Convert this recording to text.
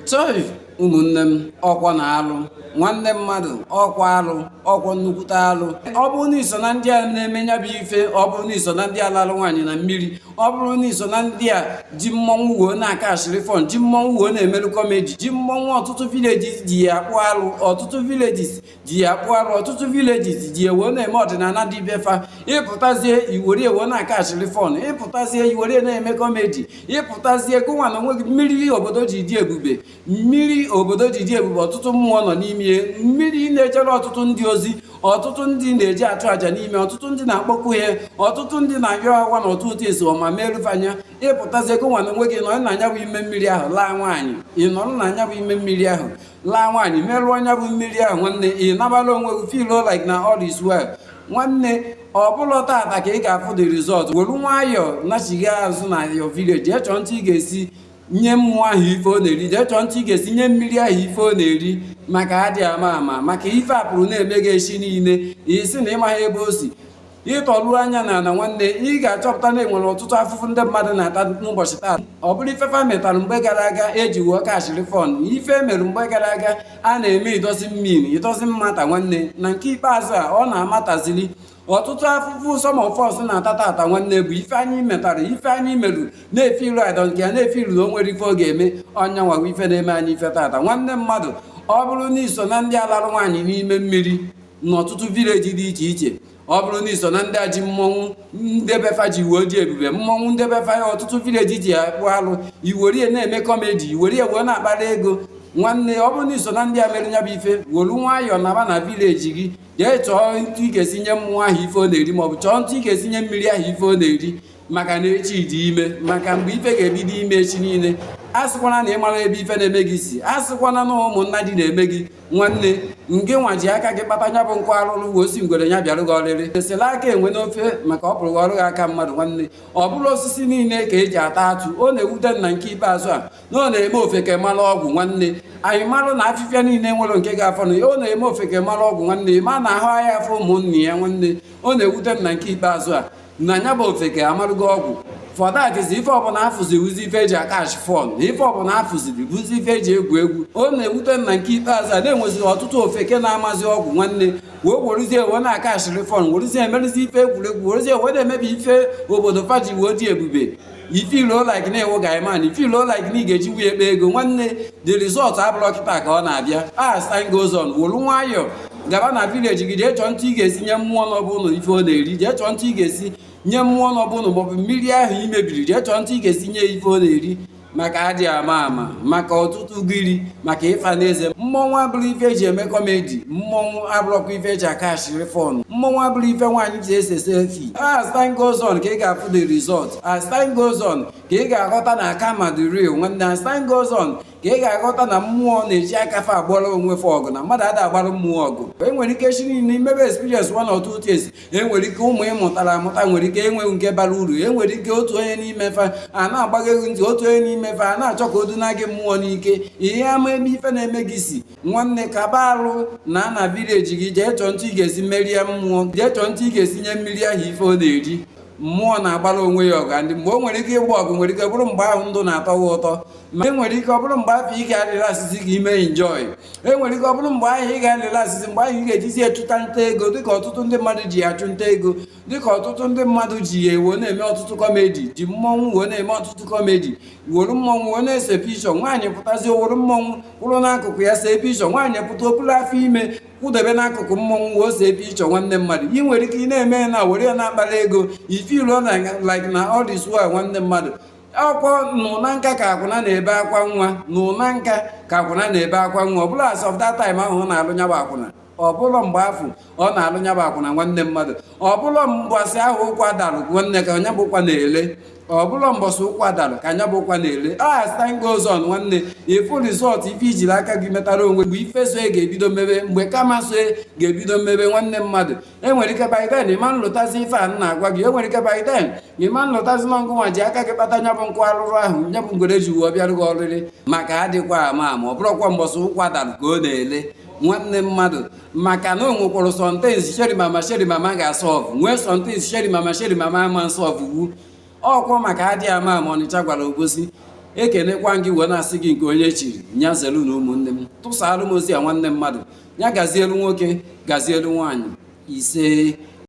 chọị ụmụnne m ọkwọ na alụ nwanne mmadụ ọkwọ alụ ọkwọ nnukwute alụ ọ bụrụ na i so na ndị a na-eme nya bụ ife ọ bụrụ na i so na ndị a lalụ nwaanyị na mmiri ọ bụrụ na i so na ndị a ji mmọnwụ wee na-akashịrị fun ji mmọnwụ wee na-emerụ comedy ji mmọnwụ ọtụtụ villages ji ya akpụ alụ ọtụtụ villages ji ya akpụ alụ ọtụtụ villages ji ya wee na-eme ọdịnala dị be fa ị pụtazie i were ya wee na-akashịrị fun ị pụtazie i were ya na-eme comedy ị pụtazie gụnwa na onwe gị mmiri obodo ji dị ebube mmiri obodo ji dị ebube ọtụtụ mmụọ nọ n'ime mmiri na-ejere ọtụtụ ndị ozi ọtụtụ ndị na-eje achụ àjà n'ime ọtụtụ ndị na-akpọku ya ọtụtụ ndị na-ayọ awa na ọtụtụ esi ọma merụfe anya ị pụtazie gụnwa na onwe gị nọrọ na nya bụ ime mmiri ahụ laa nwaanyị ị nọrọ na nya bụ ime mmiri ahụ laa nwaanyị merụọ nya bụ mmiri ahụ nwanne ị nabala onwe gị feel like na all is well nwanne ọ bụrọ tata ka ị ga-afụ the result were nwayọọ nachigha azụ na your village jee chọọ etu ị ga-esi nye mmụọ ahụ ife ọ na-eri jee chọọ etu ị ga-esi nye mmiri ahụ ife ọ na-eri maka a dị ama ama maka ife a pụrụ na-eme gị echi niile ị sị na ị maghị ebe o si ị tọruo anya na ala nwanne ị ga-achọpụta na e nwere ọtụtụ afụfụ ndị mmadụ na-ata n'ụbọchị taa ọ bụrụ ife fa metara mgbe gara aga e ji wee kashịrị fun ife e mere mgbe gara aga a na-eme it doesn't mean it doesn't matter nwanne na nke ikpeazụ a ọ na-amatazili ọtụtụ afụfụ some of us na-ata tata nwanne bụ ife anyị metara ife anyị meru na-efeelu I don't care na-efeelu na o nwerọ ife ọ ga-eme ọ nya nwa wụ ife na-eme anyị ife tata nwanne mmadụ ọ bụrụ na i so na ndị a larụ nwaanyị n'ime mmiri n'ọtụtụ village dị iche iche ọ bụrụ na i so na ndị a ji mmọnwụ nde be fa ji wee dị ebube mmọnwụ nde be fa ya ọtụtụ village ji akpụ alụ i were ya na-eme comedy i were ya wee na-akpara ego nwanne ọ bụrụ na i so na ndị a mere nya bụ ife wolu nwayọọ naba na village gị jee chọọ etu ị ga-esi nye mmụọ ahụ ife ọ na-eri maọbụ chọọ etu ị ga-esi nye mmiri ahụ ife ọ na-eri maka na echi dị ime maka mgbe ife ga-ebido ime echi niile asịkwana na ị mara ebe ife na-eme gị si asịkwana na ụmụnna gị na-eme gị nwanne ngị nwa ji aka gị kpata nya bụ nkụ arụrụ wee sị ngwere ya bịara gị oriri e sere aka enwe n'ofe maka ọ pụrụ ghọrụ gị aka mmadụ nwanne ọ bụrọ osisi niile ka e ji ata atụ ọ na-ewute m na nke ikpeazụ a na ọ na-eme ofeke mara ọgwụ nwanne anyị marụ na afịfịa niile nwerọ nke ga-afọnụ ọ na-eme ofeke mara ọgwụ nwanne ma na ahụ ahịa afọ ụmụnne ya nwanne ọ na-ewute m na nke ikpeazụ a na nya bụ ofeke amarụgo ọgwụ for that is ife ọbụla a fụzi wụzi ife e ji akash fun na ife ọbụla a fụziri wụzi ife e ji egwu egwu ọ na-ewute m na nke ikpeazụ a na e nweziri ọtụtụ ofeke na-amazi ọgwụ nwanne wee werezie wee na-akashịrị fun werezie emerụzi ife egwuregwu werezie wee na-emebi ife obodo fa ji wee dị ebube i feeluo like na ị wụ guy man i feeluo like na ị ga-eji wuye ekpe ego nwanne the result abụrọ kịta ka ọ na-abịa as time goes on wolu nwayọọ gaba na village gị jee chọọ ntụ ị ga-esi nye mmụọ nọ be ụnụ ife ọ na-eri jee chọọ ntụ ị ga-esi nye mmụọ nọ be ụnụ maọbụ mmiri ahụ i mebiri jee chọọ ntụ ị ga-esi nye ife ọ na-eri maka adị ama ama maka ọtụtụ gịrị maka ịfa n'eze mmọnwụ abụrọ ife eji eme comedy mmọnwụ abụrọkwa ife eji acatchiri fun mmọnwụ abụrọ ife nwaanyị ji ese selfie as time goes on ka ị ga-afụ the result as time goes on ka ị ga-aghọta na karma dị real nwanne as time goes on ka ị ga-aghọta na mmụọ na-eji aka fa agbara onwe fa ọgụ na mmadụ ada agbara mmụọ ọgụ e nwere ike sị na i mebe experience one or two things enwere ike ụmụ ị mụtara amụta nwere ike enweghị nke bara uru enwere ike otu onye n'ime fa a na-agba gị egwu ntị otu onye n'ime fa a na-achọ ka o duna gị mmụọ n'ike ihe ama ebe ife na-eme gị si nwanne kaba alụ naa na village gị jee chọọ ntụ ị ga-esi merịa mmụọ jee chọọ ntụ ị ga-esi nye mmiri ahụ ife ọ na-eri mmụọ na-agbara onwe ya ọgụ ndị mgbe o nwere ike ịgba ọgụ nwere ike bụrụ mgbe ahụ ndụ na-atọ gị ụtọ ma enwere ike ọ bụrụ mgbe afụ ị ga-alịrị asịsị ka i mee enjoy enwere ike ọ bụrụ mgbe ahụ ị ga-alịrị asịsị mgbe ahụ ị ga-ejizi achụta nta ego dịka ọtụtụ ndị mmadụ ji ya achụ nta ego dịka ọtụtụ ndị mmadụ ji ya wee na-eme ọtụtụ comedy ji mmọnwụ wee na-eme ọtụtụ comedy were mmọnwụ wee na-ese picture nwaanyị pụtazi o were mmọnwụ kwụrụ n'akụkụ ya see picture nwaanyị pụta o bulu afọ ime kwụdebe n'akụkụ mmọnwụ wee see picture nwanne mmadụ ị nwere ike ị na-eme ya na were ya na-akpara ego i feeluo na like na all this while nwanne mmadụ ọ bụkwa n'ụna nka ka akwụna na-ebe akwa nwa n'ụna nka ka akwụna na-ebe akwa nwa ọ bụrọ as of that time ahụ ọ na-alụ nya bụ akwụna ọ bụrọ mgbe afụ ọ na-alụ nya bụ akwụna nwanne mmadụ ọ bụrọ mbọsị ahụ ụkwa dalụ nwanne ka nya bụ ụkwa na-ele ọ bụrọ mbọsị ụkwa dalụ ka nya bụ ụkwa na-ele as time goes on nwanne ị fụ result ife i jiri aka gị metara onwe mgbe ife so ya ga-ebido mebe mgbe karma so ya ga-ebido mebe nwanne mmadụ enwere ike by then ị ma nlotazi ife a na-agwa gị enwere ike by then ị ma nlotazi na ngụnwa ji aka gị kpata nya bụ nkụ arụrụ ahụ nya bụ ngwere ji wee bịarụ gị oriri maka adịkwa ama ama ọ bụrọkwa mbọsị ụkwa dalụ ka ọ na-ele nwanne mmadụ maka na o nwekwara some things sheri mama sheri mama ga-asolve nwee some things sheri mama sheri mama ama nsolve wu ọkwa maka adị ama ama ọnịcha gwara obosi ekenekwa m gị wee na-asị gị nke onye chiri nya zelu na ụmụnne m tụsaalụ m ozi a nwanne mmadụ ya gazielu nwoke gazielu nwaanyị isee